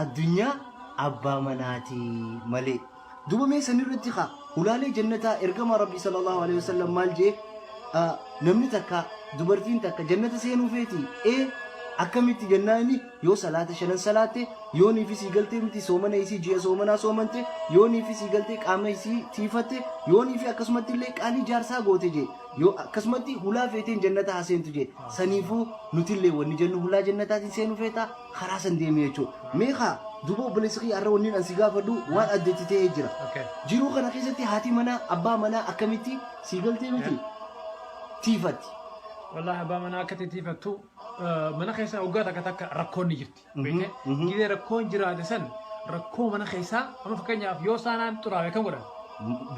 Addunyaa abbaa manaatii malee. Duuba mee san irratti kaa hulaalee jannataa ergamaa Rabbii sallallahu alaihi wasallam maal jee namni takka dubartiin takka jannata seenuu feeti ee akkamitti jannaani yoo salaata shanan salaatte yoo niifi sii galtee miti soomana isii ji'a soomanaa soomante yoo niifi sii galtee qaama isii tiifatte yoo niifi akkasumatti illee qaalii jaarsaa goote jee yoo akkasumatti hulaa feeteen jannata haa seentu jee saniifuu nutillee wanni jennu hulaa jannataatiin seenuu feetaa karaa san deeme jechuudha. Mee kaa duuba obboleessa kiyya har'a wanni an si gaafadhu waan adda itti ta'ee jira. Okay. Jiruu kana keessatti haati manaa abbaa manaa akkamitti sii galtee miti tiifatti. Wallahi abbaa manaa akka titiifattu mana keessaa waggaa takka takka rakkoon ni jirti. Beekte? mhm. Gidee rakkoon jiraate san rakkoo mana keessaa amma fakkeenyaaf yoo saanaan xuraa'e kan godhan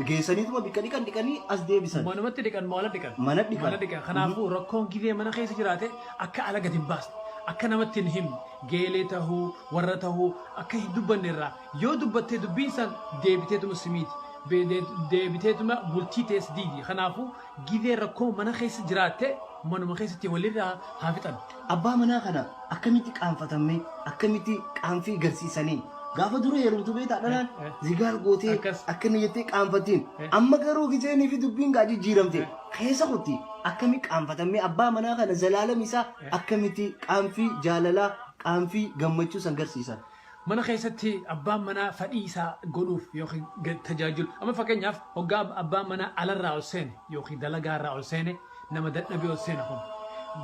Geessaniituma bikka dhiqan dhiqanii as deebisan. manumatti dhiqan maala dhiqan. Mana dhiqan. Mana dhiqan. Kanaafuu rakkoon gidee mana keessa jiraate akka ala gad hin baasne, akka namatti hin himne, geelee tahuu, warra tahuu akka hin dubbanne irraa yoo dubbattee dubbiin san deebiteetuma si miiti. Be- de- Deebiteetuma bultii tee si diigdi. Kanaafuu gizee rakkoo mana keessa jiraatte manuma keessatti walirraa haa fixan. Abbaa manaa kana akkamitti qaanfatammee akkamitti qaanfii garsiisanii gaafa dura heerumtu beektaa dhalaan Eh, eh. zigaal gootee Akkas. akkana jettee qaanfattiin Eh. amma garuu giseenii fi dubbiin gaa jijjiiramte keessa kotti akkami qaanfatammee abbaa manaa kana zalaalam isaa akkamitti qaanfii jaalalaa qaanfii gammachuu san garsiisan. Mana keessatti abbaan manaa fadhii isaa godhuuf yookiin gad tajaajilu. Amma fakkeenyaaf hoggaa abbaan manaa alarraa ol seene yookiin dalagaa irraa ol seene nama dadhabee ol seena kun.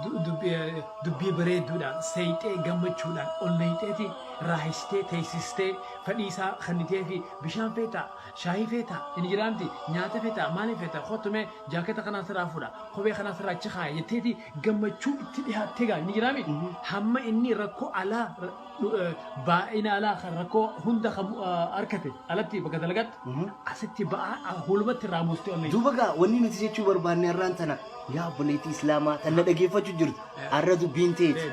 Du- dubbi- eh, Dubbii bareedduudhaan seeyxee gammachuudhaan ol neeyxeeti raahistee teessistee fadhii isaa kannitee fi bishaan feetaa Shaayii feetaa? Injiraa miti? Nyaata feetaa? Maaliin feeta? Kottu mee jaaketa kanaan sirraa fuudha. Kophee kanaan sirraa achi kaaya jetteeti gammachuu itti dhihaattee gaali. Injiraa miti? Hamma inni rakkoo alaa ra- dhu- eh, baay'ina alaa kan rakkoo hunda kan eh, harkate alatti bakka dalagaatti asitti ba'aa hulumatti irraa buustee onnee. Duuba gaa wanni nuti jechuu barbaanne har'aan tana yaa obboleettii islaamaa tan na dhaggeeffachuu jirtu har'a dubbiin teeti.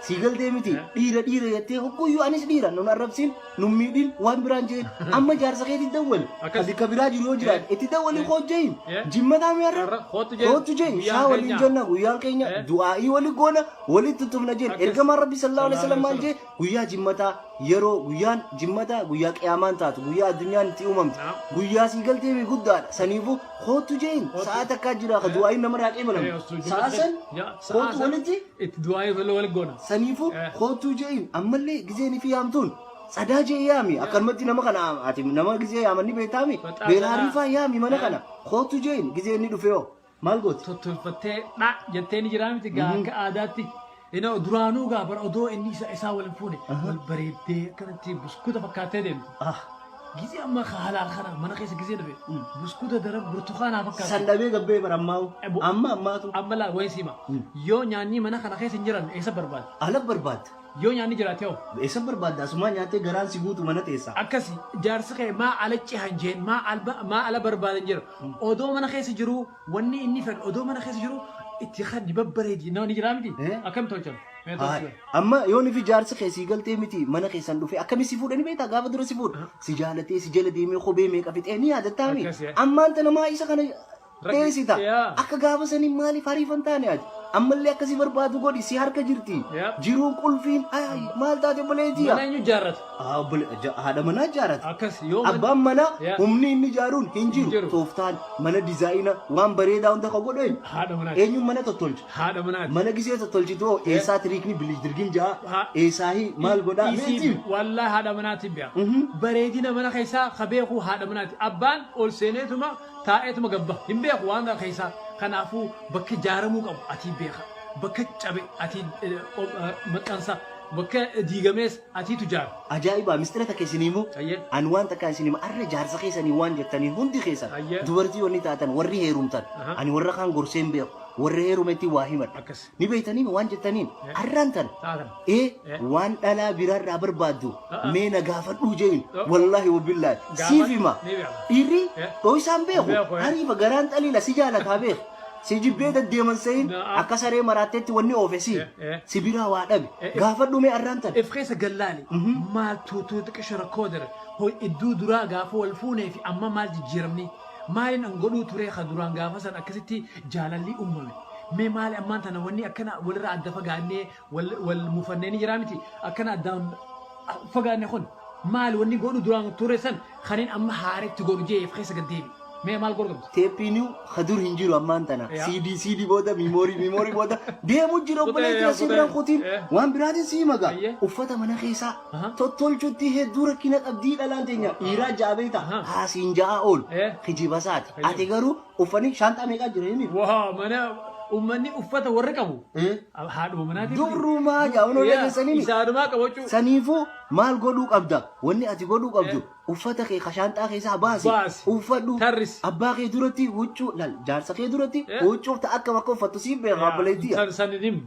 Sii galtee miti dhiira dhiira jettee hogguyyuu anis dhiira nun arrabsiin nun miidhin waan biraan jeen amma jaarsa keetti dawwal Akkas. kasi ka biraa jiru yoo jiraate Yeah. itti dawwalii Yeah. koo jeeyin Yeah. jimmataa mi'arra Har'a kootu jeen. kootu jeeyin Guyyaan shaa waliin keenya. jenna guyyaan keenya Yeah. du'aa'ii wali goona wali tuttumna jeen Akkas. ergamaan rabbi sallallahu alaihi wasallam maal jee guyyaa jimmataa yeroo guyyaan jimmataa guyyaa qiyaamaan taatu guyyaa addunyaan itti uumamtu Naam. guyyaa sii galtee fi guddaadha saniifuu kootu jeeyin Kootu. sa'a takkaa jira ka Yeah. du'aa'iin namarraa qeebalamu Yeah, osoo sa'a jimmataa- san Yeah, sa'a kootu san- walitti Itti du'aayee tola wal goona. Saniifuu Eh. kootuu je'iin ammallee gizeen fi yaamtuun sadaa jee yaami akkanumatti nama kana ati nama gizee yaamanni beektaami Baxaa beelaa sadaa. riifaa yaami mana Eh. kana kootuu je'iin gizee inni dhufee hoo maal gootu? Tottolfattee dha jettee ni jiraa miti gaa akka aadaatti. Inoo duraanuu gaa bara odoo inni isa isaa wal hin fuune wal bareeddee akkanatti buskuuta fakkaattee deemti. Ah. Gizee amma ka halaal kana mana keessa gizee dhabe. Mm. Buskuuta daran burtukaanaa fakkaatu. San dhabee gabbee bara ammaa hoo. Ebo. Amma ammaatu. Amma laa wayi siima. Mm. Yoo nyaanni mana kana keessa hin jiran eessa barbaada? Ala barbaadda. Yoo nyaanni jiraate hoo? Eessa barbaadda? Asumaa nyaattee garaan si guutu mana teessa. Akkasi jaarsi kee maa ala cihan jeen maa alba maa ala barbaadan jira. Odoo mana keessa jiruu Wanni inni fedhu odoo mana keessa jiru itti kaddi babbareedi nama ni jiraa miti Eh? akkam tolchan mee Haa, tolchan Amma yoon fi jaarsi kee sii galtee miti mana keessan dhufee akkami si fuudhani beektaa gaafa dura si fuudha. Si jaalatee si jala deemee kophee meeqa fixee ni yaadattaa mi? Akkas, yaa. Ammaan tana maa isa kana teessita. yaa. Akka gaafa sanii maaliif hariifan taane ati? Ammallee akkasii barbaadu godhi si harka jirti. Yaa. Jiruun qulfiin ay, maal taate balee jiya. mana eenyu jaarrata Haa obbole- ja- haadha manaa ijaarate. Akkas yoo man- Abbaan manaa Yaa. humni inni ijaaruun hin jiru. jiru. Tooftaan mana dizaayina waan bareedaa hunda kan godhu eenyu? haadha manaati. Eenyuun mana tottolcha? Haadha manaati. Mana gisee tottolchitu hoo eessaa tiriikni bilidirgin ja'a? Ha- Eessaa hi maal godhaa? Isiin Meetii? wallahi haadha manaatiin bi'a. Mhm. Bareedina mana keessaa ka beeku haadha manaati. Abbaan ol seeneetuma taa'eetuma gabba. Hin beeku waan kana keessaa. Kanaafuu bakka ijaaramuu qabu atii beeka. Bakka cabe atii eh, qop- eh, maxxansa. Bakka diigamees Atii tujaar. Ajaa'ibaa mistira takka isin himu Ayyee. an waan takka isin hima arra jaarsa keessanii waan jettanii hundi keessan Ayyee. dubartii wanni taatan warri heerumtan Aha. ani warra kaan gorseen beeku warra heerumetti waa himadha Akkas. ni beektaniin waan jettaniin Eh. arraan tan Taatan. ee Eh. waan dhalaa biraarraa barbaaddu A'a. mee na gaafadhuu jeeyin Oh. wallaahi wabillahi Gaafadhu. siif hima Ni beekama. dhiirri Eh. dhooysaan beeku Beeku, eh. ariifa garaan xaliila si jaalataa beeku Si jibbee daddeeman sehin Na'am. akka saree maraatteetti wanni oofe si Eh, eh. si biraa waa dhabe Eh, eh. gaafadhu mee arraan tan If keessa gallaali. Maal tuutuu xiqqisho rakkoo dare. Hoo idduu duraa gaafa wal fuunee fi amma maal jijjiiramni? Maaliin an godhuu turee ka duraan gaafa san akkasitti jaalallii uumame? Mee maali ammaan tana wanni akkana walirraa adda fagaannee wal wal mufannee ni jiraa miti akkana addaan fagaanne kun maal wanni godhu duraan ture san kanin amma haaretti godhu jee if keessa gad deebi mee maal godhu qabdi Teeppiinuu ka dur hin jiru ammaan tana. Yaa. CD CD booda miimoorii miimoorii booda deemu jira Kutee, obboleetti yaa, asii kutee. biraan kutiin Eh. waan biraatiin sii maga. Ayyee. Uffata mana keessaa Aha. tottolchutti hedduu rakkina qabdii dhalaan teenya dhiiraa jaabee Aha. ta'a haasiin ja'aa ool Eh. kijibasaati. Ayyee. Ati garuu Uffani shaanxaa meeqaa jira inni? Waa mana uummanni uffata warri qabu Eh? haadhuma manaatiin. Durrumaa yaa unoo Yaa, dhageessanii miti. Isaanumaa qabachuu. Saniifuu maal godhuu qabda? Wanni ati godhuu qabdu uffata kee ka shaanxaa keessaa baasi. Baasi. Uffadhu. Tarrisi. Abbaa kee duratti huccuu lal jaarsa kee duratti Eh. huccuu ta akka bakka uffattu siif beekaa obboleettii. San san hin himne.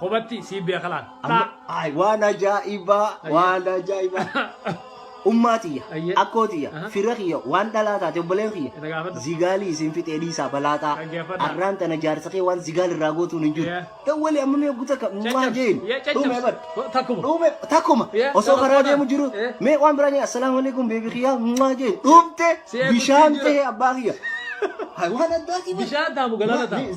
Kobatti sii beeka laal. Amma ay waan ajaa'ibaa waan ajaa'ibaa. Ummaa tiyya, Ayyee. akkoo tiyya, Aha. fira kiyya, waan dhalaa taate obboleen Itti kiyya. gaafadhu. Zigaalii isin fixee dhiisaa balaaxaa. Dhaggeeffadha. Arraan tana jaarsa kee waan zigaal irraa gootuun hin jiru. Yeah. Dawwalee amma mee guuta ka mucaa jeen. Dhume bar. Takkuma. Dhume takkuma. Yeah, Osoo karaa takkuma. deemu jiru. Yeah. Mee waan biraa jeen assalaamu alaikum beebi kiyyaa mucaa jeen. Dhumte Si eeguutti bishaan jira. ta'e abbaa kiyya. Hay waan addaati bar. Bishaan taamu galata ta'a.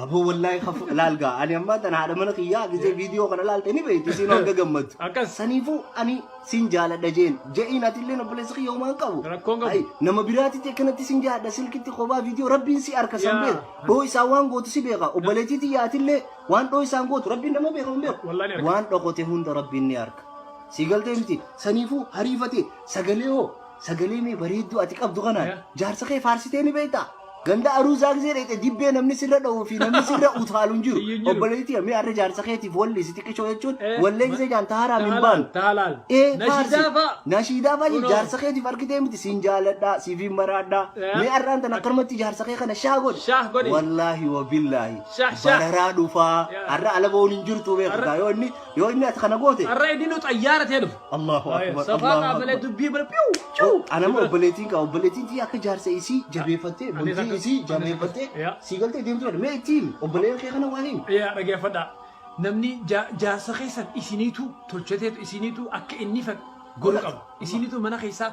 Aboo wallaahi kafu laal gaa ani ammaa tana haadha mana kiyyaa gisee viidiyoo kana laalte ni beekti isiin hanga gammaddu. Akkas. Saniifuu ani sin jaaladha jeen je'iin ati illee obboleessa kiyya homaa hin qabu. Rakkoon qabu. Ai, Nama biraatitti akkanatti sin jaaladha silkitti kophaa viidiyoo rabbiin si harka san Yaa. beeka. Dhoo isaan waan gootu si beeka obboleettii tiyya ati illee waan dhoo isaan gootu rabbiin nama beeka hin beeku. Wallaahi ni arga. Waan dhokote hunda rabbiin ni harka. Si galtee miti saniifuu hariifate sagalee hoo Sagalee mee bareedduu ati qabdu kanaan jaarsa kee faarsitee ni beektaa? Ganda aruu zaagzee dheete dibbee namni sirra dha'uu fi namni sirra utaalu hin jiru. Obboleettii mee arra jaarsa keetiif walli si xiqqishoo jechuun wallee gisee jaan taharaa min baanu. Taalaal. Ee faarsi. Nashiidaa fa'i jaarsa keetiif argitee miti siin jaaladhaa siifiin maraadhaa. Mee arraan tan akkanumatti jaarsa kee kana shaa godhi. Shaah godhi. Wallaahi wa billaahi. Shaah, shaah. Bararaa dhufaa. Arra ala ba'uun hin jirtu beekataa yoo inni yoo inni ati kana goote. Arra idinu xayyaara tee dhufu. Allahu Ayo, akbar. safaa Allahu naa malee akbar. dubbii bara piu ciu. Anama obboleettiin qaba. Obboleettiin tii akka jaarsa isii jabeeffattee, Anis bultii akka- isii anis jabeeffattee akka- yaa. sii galtee deemtu dha. Mee ittiin obboleeyyan kee kana waa himi. Yaa dhageeffadha. Namni ja- jaarsa keessan isiniitu tolchateetu isiniitu akka inni fedhu godhu qaba. Isiniitu mana keessaa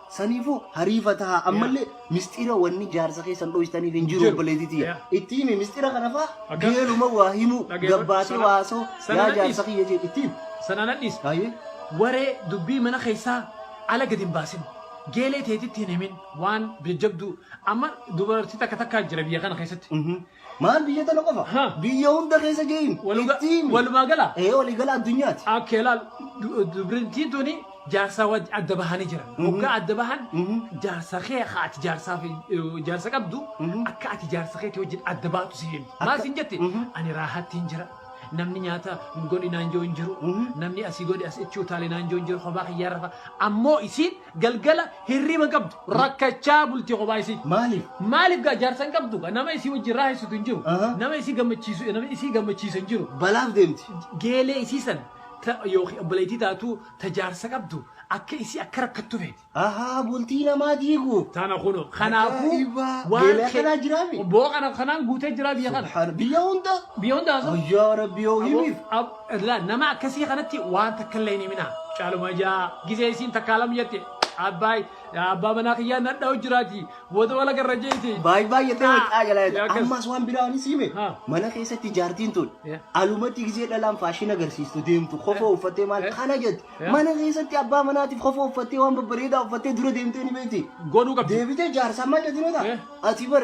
Saniifuu hariifa tahaa ammallee misxira wanni jaarsa keessan dhoysitaniif hin jiru Jiru. obboleetii tiyya. Yeah. Itti himi misxira kana faa Akkas. geeluma waa himuu Dhageeffadhu. gabbaatee Sana- waasoo sana yaa nadhiis. jaarsa kiyya jee itti himi. Sana nadhiis. Baay'ee. Waree dubbii mana keessaa ala gadi hin baasin. Geelee teetitti hin himin waan jajjabduu. Amma dubartii takka takkaa jira biyya kana keessatti. Mhm. Maal biyya tana qofa? Ha. Biyya hunda keessa ga'in. Waluga- Itti himi. walumaa gala? Ee walii gala addunyaati. Akkee laal du- dubartiin tuni jaarsaa wajji adda bahanii jiran. Hoggaa adda bahan Mhm. jaarsa kee akka ati jaarsaa fi eh, jaarsa qabdu Mhm. akka ati jaarsa keetii wajjin adda baatu si himti. Maal siin jetti? Mhm. Ani raahaatti hin jira. Namni nyaata godhi naan jiru hin jiru. Mhm. Namni asii godhi as itti utaalee naan jiru hin jiru. Kophaa kiyyaa rafa. Ammoo isiin galgala hirriba qabdu rakkachaa bulti kophaa isii. Maaliif? Maaliif gaa jaarsan qabdu gaa nama isii wajjin raaheessitu hin jiru. Aha. Nama isii gammachiisu nama isii gammachiisu hin jiru. Balaaf deemti. Geelee isii san ta- yookiin obboleettii taatu ta jaarsa qabdu akka isii akka rakkattu feeti. Ahaa bultii namaa diigu. Tana kuno kanaafuu Ajaa'ibaa. Geelee akkanaa jiraa mi? Boo kana kanaan guutee jira biyya kana. Subhaan- Biyya hunda. Biyya hundaa sun. Ayyaa rabbi yoo himiif. Ab- Laa nama akkasii kanatti waan takka illee hin himinaa. Caaluma ijaa gisee isiin takkaa lam jette abbaay abbaa manaa kiyyaa nadha'u jiraati booda wala garra jeeti. Baay baay jettee Taa. waqaa jalaa jettee. Akkas. Ammas waan biraa anis hime. Ha. Mana keessatti jaartiin tun Yeah. alumatti gisee dhalaan faashin agarsiistu deemtu kofoo uffattee maal Eh. kana jette. Yeah. Mana keessatti abbaa manaatiif kofoo uffattee waan babbareedaa uffattee dura deemtee ni beekti. Godhuu qabdi. Deebitee jaarsaa maal jettinoo Eh. ta'a? Ati bar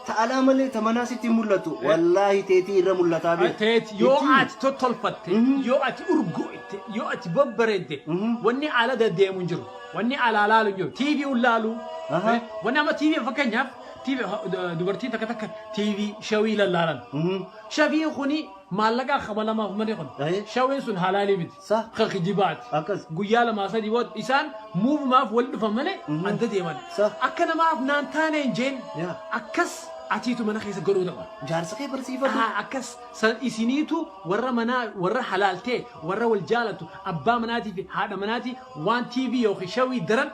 Ta alaa malee ta manaa sitti hin mul'attu. Wallaahi teetii irra mul'ataa bee. Teeti yoo Ittii. ati tottolfatte, yoo ati urgooyte, yoo ati babbareedde, wanni ala deddeemu hin jiru. Wanni alaa laalu hin jiru. TV un laalu. Aha. Wanni amma TV fakkeenyaaf TV ha- du- dubartii takka takka TV shawii lallaalan. Mhm. Shafiin kuni maallaqaa kabalamaaf malee kun. Ahe. Shawiin sun halaalii miti. Sa? ka kijibaati. Akkas. Guyyaa lamaa sadii booda isaan muuvumaaf wal dhufan malee Mhm. adda deeman. Sa? Akka namaaf naan taane hin jeen. Yaa. Akkas atiitu mana keessa godhuu daba. Jaarsa kee barsiifatu. Ah, akkas san isiniitu warra manaa warra halaaltee warra wal jaalatu abbaa manaatii fi haadha manaatii waan TV yookiin shawii daran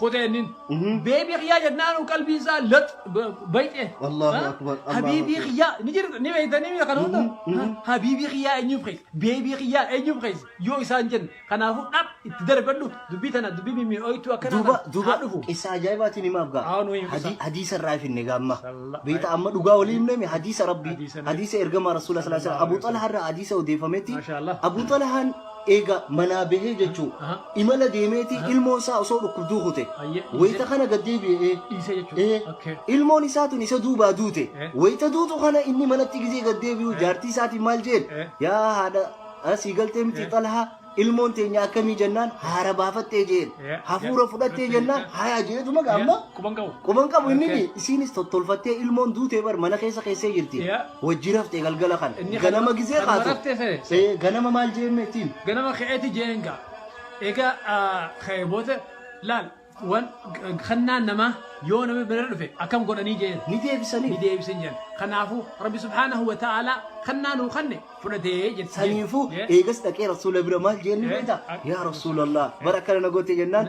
kotee innin beebii kiyyaa jennaanu qalbii isaa lax bayxee Allahu akbar, Allahu habiibii akbar. kiyyaa ni jirta ni beeytanii miidha kana hunda habiibii kiyyaa eenyuuf keessa beebii kiyyaa eenyuuf keessa yoo isaan jennu kanaafuu dhab itti darbadhu dubbii tana dubbii mimmi'ooytuu akkana duuba kana duuba haa dhufu qissa ajaa'ibaatiin himaaf gaa Haa, nu himi Hadi- qissa. hadiisa irraa finne gaamma Sallallahu beekta amma dhugaa walii himname hadiisa rabbii Hadiisa nabi. hadiisa ergamaa rasuula sallallahu alaihi wasallam abu xalahaa irraa hadiisa odeeffametti Masha Allah. abu xalahaan Eega manaa bahee jechuu Aha. imala deemeeti Aha. ilmoon isaa osoo dhukkubduu kute Ayyee, dhiise. wayita kana gad deebi'ee Dhiisee jechuudha. ee, Okay. ilmoon isaa tun isa duubaa duute Eh. wayita duutu kana inni manatti gizee gad deebi'u jaartii isaatiin maal jeen Eh. yaa haadha asii galtee miti Eh. xalhaa ilmoon teenya akkamii jennaan haara baafattee jeen Eh. hafuura Eh. fudhattee Eh. jennaan haya jeetuma gaamma Quban qabu. quban qabu inni Okay. isiinis tottolfattee ilmoon duutee bar mana keessa keessee jirti Yeah. Wajji raftee galgala kana. Inni kana- Ganama gisee kanuma kaatu. raftee sare. Ee, Ganama maal jeemee ittiin? ganama ka'eeti jeenga egaa ka'ee booda laal waan kannaan namaa yoo nama bira dhufe akkam godhanii jeen Ni ni deebisanii. deebisan jeen kanaafuu rabbi subhaanahu wa ta'aalaa kannaa nuu kanne fudhatee jette Saniifuu eegas dhaqee rasuula bira maal jeen ni Eh, beektaa? ak- Yaa rasuulallah bara akkana na goote jennaan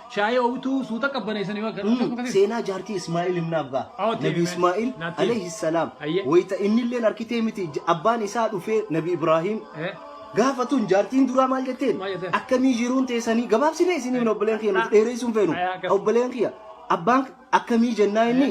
Shaayii oowwitu suuta qabbaneessanii bakka Mm, tokko keessa. seenaa jaartii Ismaa'il himnaaf gaa. Oh, Nabi deebi'e. Ismaa'il Naatti. alayhi salaam Ayyee. wayita inni illee harkitee miti j- abbaan isaa dhufee Nabi Ibraahiim Eh, gaafatun jaartiin duraa maal jetteen Maal jetteen? akkamii jiruun teessanii gabaabsinee isin hin obboleen kiyya nuti dheereessuun feenu Ayaa, akkas. obboleen kiyya abbaan Akkamii jennaa inni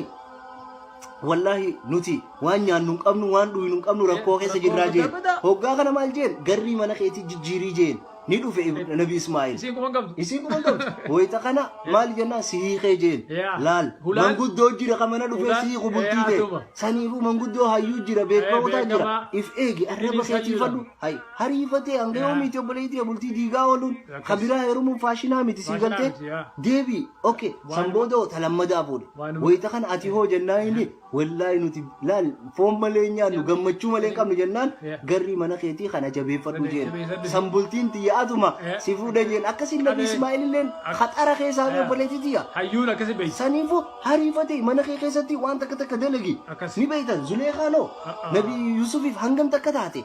wallaahi nuti waan nyaannu hin qabnu waan dhuynu hin qabnu rakkoo keessa jirraa jeen hoggaa kana maal jeen garrii mana keetii jijjiirii jeen ni dhufe nabi Ismaa'il Isiin kuma qabdu. isii kuma qabdu wayita kana maal jennaan si hiikee jeen Yaa. laal Hulaan- manguddoo jira ka mana dhufee Hulaan- si hiiku bultii Yaa, tee asuma. saniifuu manguddoo hayyuu jira beekamotaa Yaa, jira beekamaa. if eegi arraba Inni keetii sayyuudha. fadhu hay hariifatee hanga Yaa. yoomiiti obboleetii tiyya bultii diigaa ooluun Akkas. ka biraa heerumuun faashinaa miti sii Faashinaa galtee miti, yaa. deebii ok Waan- san booda hoo ta lammadaa fuudhe Waanuma- wayita kana ati hoo jennaan inni wallaahi nuti laal foon malee hin nyaannu gammachuu malee hin qabnu jennaan Yaa. garrii mana keetii kana jabeeffadhu Jabe- jeen jabeeffadhu. san bultiin tiyya atuma Yaa. si fuudha jeen akkasii nabi Qabee. Ismaa'il illeen Ak- haxara keessaa Yaa. obboleetii tiyya hayyuun akkasi beeysa saniifu hariifate mana kee keessatti waan takka takka dalagi Akkas. ni beeytan zuleekaanoo Ah, ah. nabi yusufiif hangam takka taate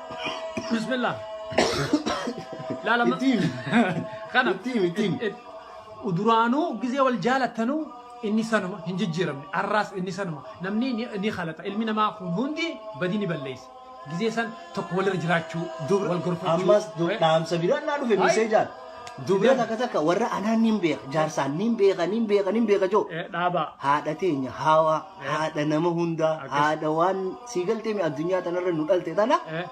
Bismillah. Laala ma- Ittiin. Kana. Ittiin, ittiin. It- it- Duraanuu gizee wal jaalattanuu inni sanuma hin jijjiiramne. Arraas inni sanuma. Namni ni ni halata. Ilmi namaa kun hundi badii ni balleessa. Gizee san tokko walirra jiraachuu, wal gorfachuu. Ammas du- dhaamsa biraan naa dhufe Hai. miseejaan. Dubra takka takka warra anaan niin beeka. Jaarsaan niin beeka, niin beeka, niin beeka joo. Eh, Dhaabaa. Haadha teenya haawaa. haadha nama hundaa Akkas. haadha waan sii galtee mi addunyaa tanarra nu dhalte tana Eh,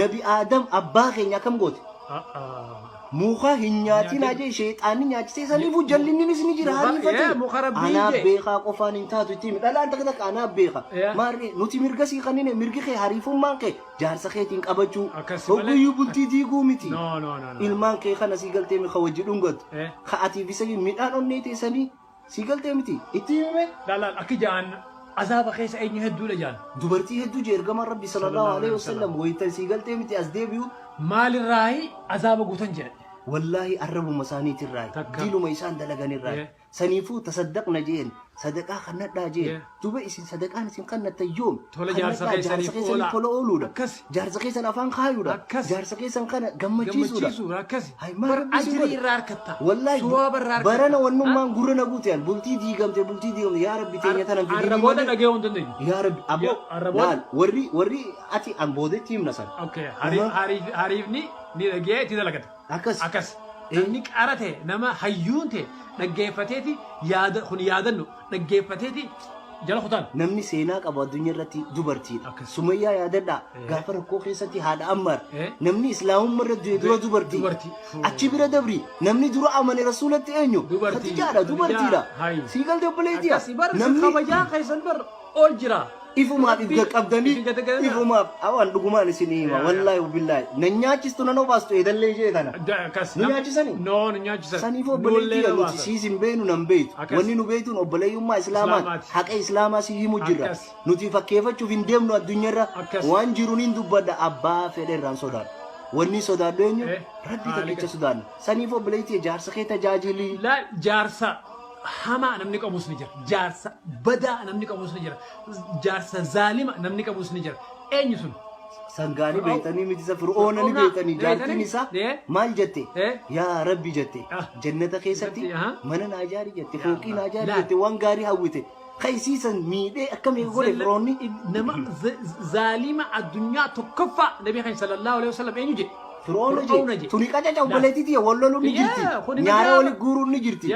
nabi aadam abbaa keenya akkam goote ah, ah. muka hin nyaatin Nyaatin. ajee sheexaanni nyaachisee saniifu jallinninis ni jira Muka- hariifate eh, muka rabbii anaa jee. beekaa qofaan hin taatu ittiin dhalaan takka takka anaa beeka Eh. maarree nuti mirga sii kannine mirgi kee hariifummaan kee jaarsa keetiin qabachuu Akkas malee. hogguyyuu bultii diiguu miti No, no, no, no. ilmaan kee kana sii galtee mi ka wajji dhungatu Eh. ka atiif isa midhaan onnee teessanii Sii galtee miti itti himime. Laalaan akki ja'aan azaaba keessa eenyu hedduudha ja'an. Dubartii hedduu je ergamaan rabbi sallallahu alaihi wasallam waytan sii galtee miti as deebi'u. Maalirraayi azaaba guutan jedhan. Wallaahi arrabuma isaaniitirraayi. Takka. Diluma isaan dalaganirraayi. Yeah. Saniifuu tasaddaqna jeen sadaqaa kannadhaa jeen. Yeah. Duba isin sadaqaan isin kannattan yoomi? Tola jaarsa Kannadhaa jaarsa keessaniif keessaniif oolaa. tola ooluudha. Akkasi. Jaarsa keessan afaan kaayuudha. Akkasi. Jaarsa keessan kana gammachiisuudha. Gammachiisuudha, akkasi. Hay, maal Bar rabbi isin ajrii godhe? irraa harkatta. Wallahi, Suwaaba irraa harkatta. barana wannummaan gurra na guute yaal. Bultii diigamte bultii diigamte yaa rabbi teenya tanan fidii Arra booda malee. dhaga'uu hin dandeenyu. Yaa rabbi aboo Yaa- arra booda- laal warri warri ati an boodetti himna san. Okay, hari- Aha. hariif- hariifni ni dhaga'ee itti dalagata. Akkas. Akkas. Eh. Namni qara ta'e, nama hayyuun ta'e dhaggeeffateeti yaada kun yaadannu dhaggeeffateeti jala kutaan. Namni seenaa qabu addunyaa irratti dubartiidha. Akkas. Sumayyaa yaadadhaa Eh. gaafa rakkoo keessatti haadha Ammaar Eh. namni islaamummaa irra du'e dura dubartii. Dubartii. Achi bira dabri namni dura amane rasuulatti eenyu? Dubartii. Khadijaadha dubartiidha. Khadijaa. Hai. Sii galtee obboleettiidha. Akkasi bar isin kabajaa keessan bar ol jira. Ifumaaf if gaqqabdanii ifumaaf awaan dhugumaan isinii hima wallaahi billaahi na nyaachistu nan obaastu eedallee ishee tana nu nyaachisani saniif obboleettii kan nuti siis hin beenu nan beeytu wanni nu beeytuun obboleeyyummaa islaamaan haqa islaamaa si himu jirra nuti fakkeeffachuuf hin deemnu addunyarra waan jiruun hin dubbadha abbaa fedherraan sodaadha wanni sodaadhu eenyu rabbii takkicha sodaanna saniif obboleettii jaarsa kee tajaajilii jaarsa hamaa namni qabus ni jira. Jaarsa badaa namni qabus ni jira. Jaarsa zaalima namni qabus ni jira. Eenyu sun? Sangaanii beektanii miti isa fir'oona ni beektanii jaartiin isaa maal jette yaa rabbi jette jannata keessatti mana naa jaari jette fooqii naa jaari jette waan gaarii hawwite Kaysiisan miidhee akkam eega godhe firoonni. Nama zaalima addunyaa tokkoffaa nabi kan sallallahu alaihi wasallam eenyu jedhe. Firoona jedhe. Tuni qacaca obboleettii tiyya wal loluun ni jirti. Nyaara wali guuruun ni jirti.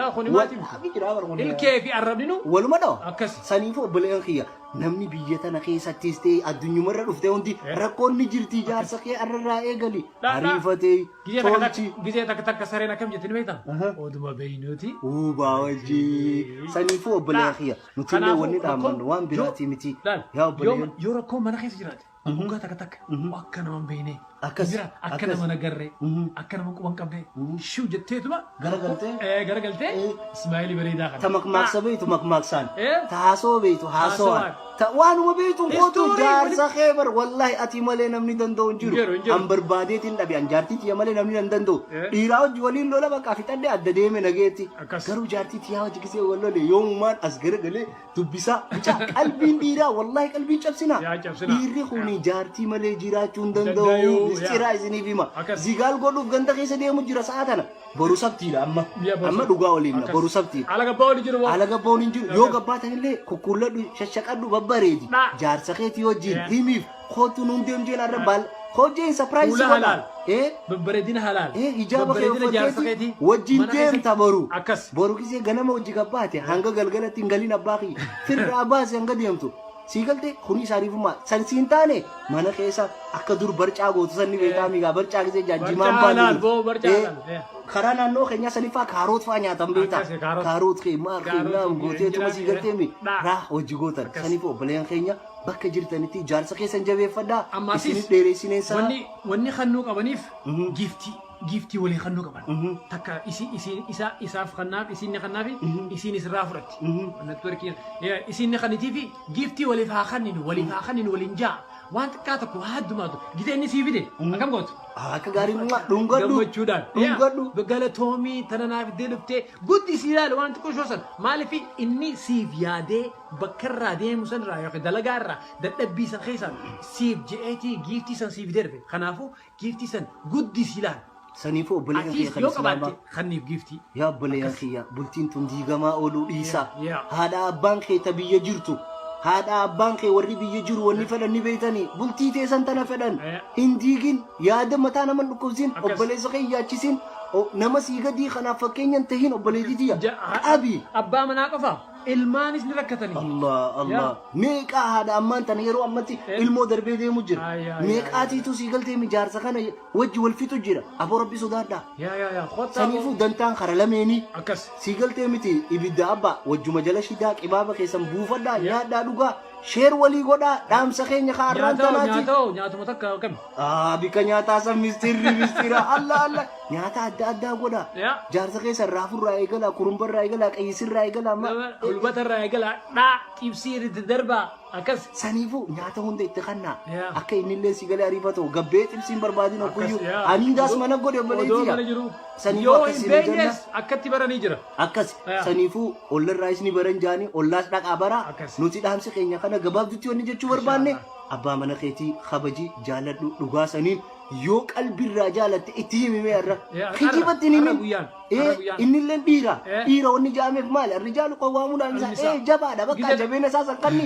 Ilkee fi arrabninu. Waluma dhoo. Akkas. Saniifuu obboleewwan kiyya namni biyya tana keessattis ta'e addunyumarra dhuftee hundi rakkoon ni jirti jaarsa kee arrarraa eegali. Ariifatee. Gizee takka Tolchi. takka gizee takka takka sareen akkam jettee ni beekta? Aha. Oduma beeynuuti. Uubaa wajjii. Saniifuu obboleeyyaa kiyya. Nuti illee Kanaafuu wanni dhaamannu rakkoon- waan biraatii yoo- miti. laal, Yaa yoo- obboleeyyan. Yoo rakkoon mana keessa jiraate. Dhugaa takka takka. Mhm. Akka nama hin beekne. Akkas, Jira akka akkas. nama hin agarre. Mhm. Akka nama quba hin qabne. Mhm. Shiw jetteetuma Garagaltee. Eh, garagaltee Eh. ismaa'ilii bareedaa kana. Ta makmaaksa beeytu makmaaksaan. Eh? Ta haasoo beeytu haasawaan. Haasawaan. Ta waanuma beeytu kootu History jaarsa wali- kee bar wallaahi ati malee namni danda'u hin Hin jiru, jiru. hin jiru. An barbaadeetiin dhabe an jaartii tiyya malee namni hin danda'u. Eh? Dhiiraa hojii waliin lola bakka fixadhe adda deeme nageetti. Akkas. Garuu jaartii tiyyaa hojii gisee wal lole yoomumaan as garagalee dubbisaa mucaa qalbiin dhiiraa wallahi qalbiin cabsinaa Yaa cabsinaa. dhiirri kuni jaartii malee jiraachuu hin danda'u Danda'u, yaa. mistiraa isiniif hima Akkas. zigaal godhuuf ganda keessa deemu jira sa'a tana boru sabtiidha amma Biyya boru amma sabti. dhugaa waliin Akkas. boru sabtiidha Ala gabbaa oli jiru moo? ala gabboon hin jiru yoo gabbaa ta'ellee kukkuulladhu shashaqadhu babbareedi Dha. jaarsa keetii wajjin Yaa. himiif Kootu nuun deemjeen arra baal. Hojjeen sapiraayiz Fuula godha. halaal. Eh? Babbareedina halaal. Eh, hijaaba kee Babbareedina jaarsa uffatteeti keetii. wajjin Mana keessatti- deemta boru. Akkas. Boru gisee ganama hojii gabbaate hanga galgalatti hin galin abbaa kiyya. Firraa baase hanga deemtu. Sii galte kuni isaaniifummaa. San siin taane mana keessa akka dur barcaa gootu sanni beekaa migaa barcaa gisee jaajjimaan Barcaa baanu. halaal, boo, barcaa Eh, halaal, eh. Karaa naannoo keenyaa sanifaa kaaroot fa'aa nyaatan beektaa. Akkas, kaaroot. Kaaroot kee maal Kaaroot keenyaa kee, gootee tuma sii injiraan galtee mi? kee. Dhaa. Raa hojii gootan. Akkas. Saniif obboleen keenya Bakka jirtanitti ijaarsa keessan jabeeffadhaa. Ammaatis Isinif dheeressineen sana. wanni wanni kannuu qabaniif Mhm. giiftii giiftii walii kannuu qaban. Mhm. Takka isi isi isa isaaf kannaaf isiin ni kannaafi Mhm. isiin isirraa fudhatti. Mhm. Networkiin eh, isiin ni kannitiifi giiftii waliif haa kanninu waliif haa kanninu waliin jaa waan xiqqaa tokko waa addumaatu gita inni sii fide Mhm. akkam gootu. Ah, Akka gaarii dhumaa dhungadhu. gammachuudhaan Dhungadhu. Yaa, galatoomii tana naaf iddee dhuftee guddi si ilaali waan xiqqoo shoosan maaliif inni siif yaadee bakka irraa deemu san irraa yookiin dalagaa irraa dadhabbii san keessaan siif je'eetii giiftii san siif darbe kanaafuu giiftii san guddisi laal Saniifuu obboleeyyan kiyya atiis kan yoo islaamaa qabaatte kanniif giiftii yaa obboleeyyan Akkas. kiyya bultiin tun diigamaa ooluu dhiisaa Yaa, yaa. haadha abbaan kee ta biyya jirtu haadha abbaan kee warri biyya jiru wanni fedhan ni beeytanii bultii teessan tana fedhan Yaa. hin diigin yaada mataa naman dhukkubsin Akkas. obboleessa kee hin yaachisin o- nama sii gadii kanaaf fakkeenyan tahin obboleettii tiyya Ja- ha- qabi abbaa manaa qofa ilmaanis ni rakkatanii. Allah Allah Yaa. meeqaa haadha ammaan tana yeroo ammatti Eh. ilmoo darbee deemu Ay, jira ay, ay, meeqaatiitu sii galtee mijaarsa kana wajji wal fixu jira aboo rabbi sodaadha Yaa yaa yaa kottaa saniifuu dantaan kara lameenii akkas. sii galtee miti ibidda abbaa wajjuma jala shidaa qibaaba keessan buufadhaa nyaadhaa dhugaa sheer walii godhaa dhaamsa keenya ka arraan Nyaatoo tanaati nyaatoo nyaatuma takka akkami. Ah, bika nyaataa san mistirri mistira alla alla nyaata adda addaa godha. Ya. Jaarsa keessa raafurraa eegala, kurumbarraa eegala, qayyisirraa eegala amma. Hulbata irraa eegala dhaa xibsii irratti darbaa akkas. Saniifuu nyaata hunda itti kannaa. Ya. Akka inni illee si galee ariifatu gabbee xibsiin barbaadin hogguyyuu. Akkas, ya. Ani daas mana godhe Odoo mana obboleettiidha. jiru. Saniifuu Yoo akkas hin isin jenna. beenyes akkatti baranii jira. Akkas Ya. saniifuu ollarraa isni baran jaanii ollaas dhaqaa bara Akkas. nuti dhaamsi keenya kana gabaabdutti wanni jechuu barbaanne abbaa mana keetii kabaji jaaladhu dhugaa saniin yoo qalbirraa jaalatte itti himimee irra Eh, arra- kijibatti hin arra himin guyyaan, Eh, arra guyyaan. innillee dhiira Eh. dhiira wanni jaameef maali arrijaalu qawwaamuudhaan isaa Annisaa. eh jabaadha bakka Gidada. jabeena isaa sanqanni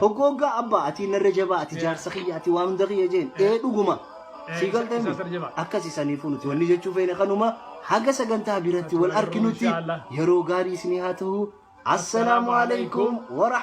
hoggooggaa abbaa ati narra jabaa ati jaarsa kiyya ati waan hunda kiyya jeen eh dhuguma Eh, sii isa- galtee isa sarra jabaa. akkasi saniifuu nuti wanni jechuu feene kanuma haga sagantaa biratti wal Inshallah. arkinutti yeroo gaarii isinii haa ta'u assalaamu alaikum warahmatullahi